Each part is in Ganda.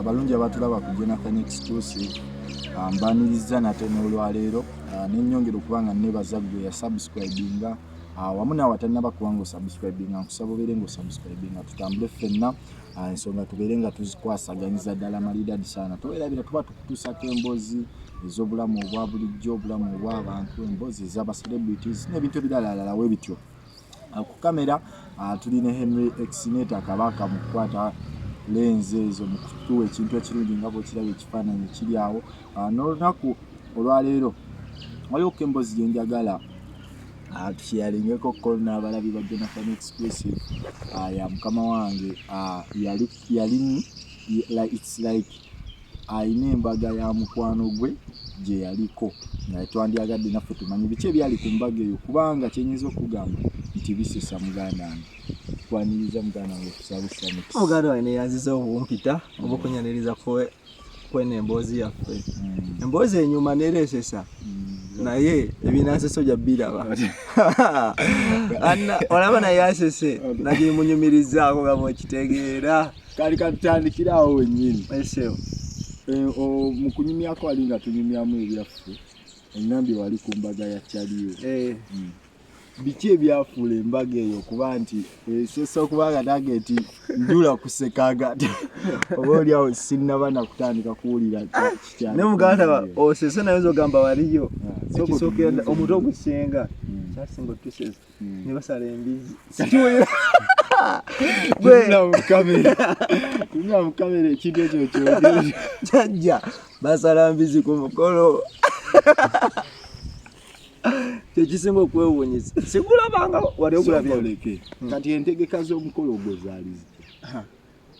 abalungi abatulaba ku jonathan exclusive ah, mbaniriza nate n'olwaleero ah, nenyongera okuba nga nebaza gwe yasubscribinga ah, wamu naawe atanaba kuba nga osubscribinga nkusaba obeere nga osubscribinga tutambule ffenna ensonga tubeere nga tuzikwasaganyiza ddala malidadi saana towerabira tuba tukutuusako emboozi ez'obulamu obwa bulijjo obulamu obw'abantu emboozi ez'abacelebrities n'ebintu ebiralalala we bityo ku kamera ah, tuli ne henry exinator kabaka mu kukwata lenzi ezo mu kutuwa ekintu ekirungi nga bwekiraba ekifaananyi kiri awo ah, n'olunaku olwaleero waliwo ko emboozi gye njagala ah, tukiyalingeko ko n'abalabi ba jonathan exclusive ya mukama wange yali yali it's like alina embaga ya mukwano gwe gye yaliko nga twandyagadde naffe tumanye biki ebyali ku mbaga eyo kubanga kyenyinza okugamba nti bisesa muganda wange kwaniriza muganda wange kusabisa muganda wange neyanziza obumpita obukunyaniriza kweno emboozi yaffe hmm. emboozi enyuma neresesa hmm. naye ebinanseso ja biraba olaba naye asese nagimunyumirizaako gaba okitegeera kali katutandikira awo wennyini eseo eh, mu kunyumyako wali nga tunyumyamu ebyaffe engambye wali ku mbaga ya caliyo eh. hmm. biki ebyafuula embaga eyo okuba nti esesa eh, okuba nga nange nti njula kusekaga oba oliawo sinnaba nakutandika kuwulira ne muganda osese naye nzogamba waliyo ah, omuto ogusinga hmm. kyasinga otusesa hmm. ne basala embizzi kati oyo mukamera ekintu ekyo kyojajja basala mbizi ku mukolo kyekisinga okwewunyisa sikulabanga wali okulabya kati entegeka z'omukolo ogwo zaalizi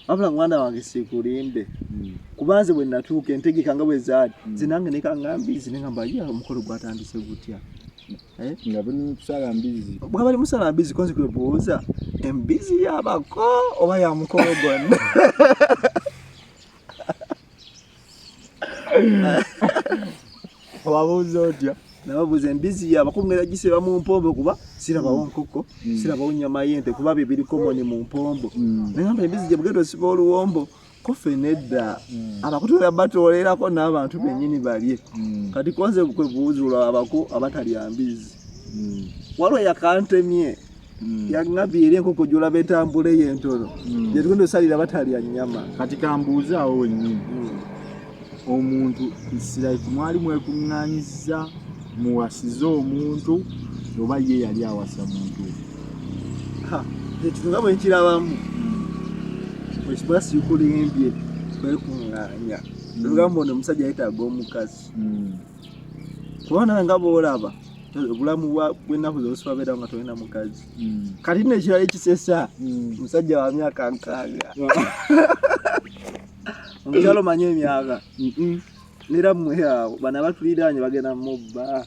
wabula mwana wange sikulimbe hmm. kuba nze bwe natuuka entegeka nga bwe zaali hmm. nze nange nekanga mbizi nenga mba ye omukolo gwatandise gutya eh? nga bali musala mbizi bwa bali musala mbizi konzi kwe buuza embizi yabako oba ya mukolo gonna wabuuza otya nababuuza embizi ye abakulu ngera giseba mu mpombo kuba sirabawo nkoko mm. sirabawo nyama yente kuba bye biri komoni mu mpombo mm. nagamba embizi gye bugenda osiba oluwombo kofe nedda mm. abakutula batoolerako n'abantu bennyini balye kati konze kwe buuzula abako abatalya mbizi waliwo yakantemye Mm. yangambye era enkoko gyolaba entambula eyo entono mm. gyetugenda osalira batalya nyama kati kambuuze awo wennyini mm. omuntu isiraiki mwali mwekuŋŋanyiza muwasize omuntu oba ye yali awasa muntu ekitunga bwe nkirabamu ekiba sikulimbye kwekuŋŋanya lugambo ono omusajja yetaaga omukazi kubona nga bwolaba obulamu bwennaku zosibabeera nga tolina mukazi hmm. kati no ekirala ekisesa hmm. musajja wa myaka nkaaga omukyalo manyi emyaka nera mwe awo bana batuliraanye bagenda mubba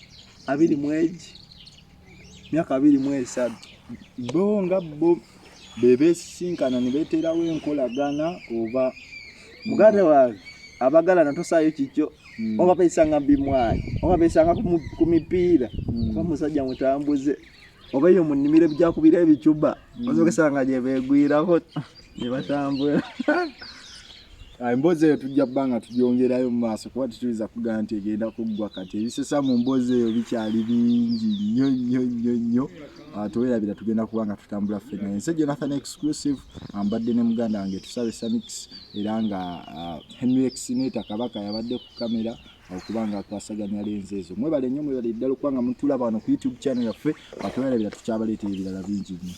abiri mwegi myaka abiri mu esatu bo nga bo bebesisinkana nebeteerawo enkolagana oba muganda wange abagalana tosaayo kikyo mm. oba besanga bimwayi oba besanga ku mipiira mm. oba musajja mutambuze oba eyo mu nnimiro ebijakubira ebicuba mm. osogesanga gyebegwirako nebatambula Ah, emboozi eyo tujja kuba nga tugyongerayo mu maaso kuba tetuyinza kugamba nti egenda kuggwa kati ebisesa mu mboozi eyo bikyali bingi nnyo nnyo nnyo nnyo ah, tewerabira tugenda kuba nga tutambula ffena ensi jonathan exclusive ambadde ne muganda wange tusabe samix era nga ah, henry exineta kabaka yabadde ku kamera okuba nga akwasaganya lenzi ezo mwebale nnyo mwebale ddala okuba nga mutulaba wano ku youtube channel yaffe atwerabira tukyabaleetera ebirala bingi nnyo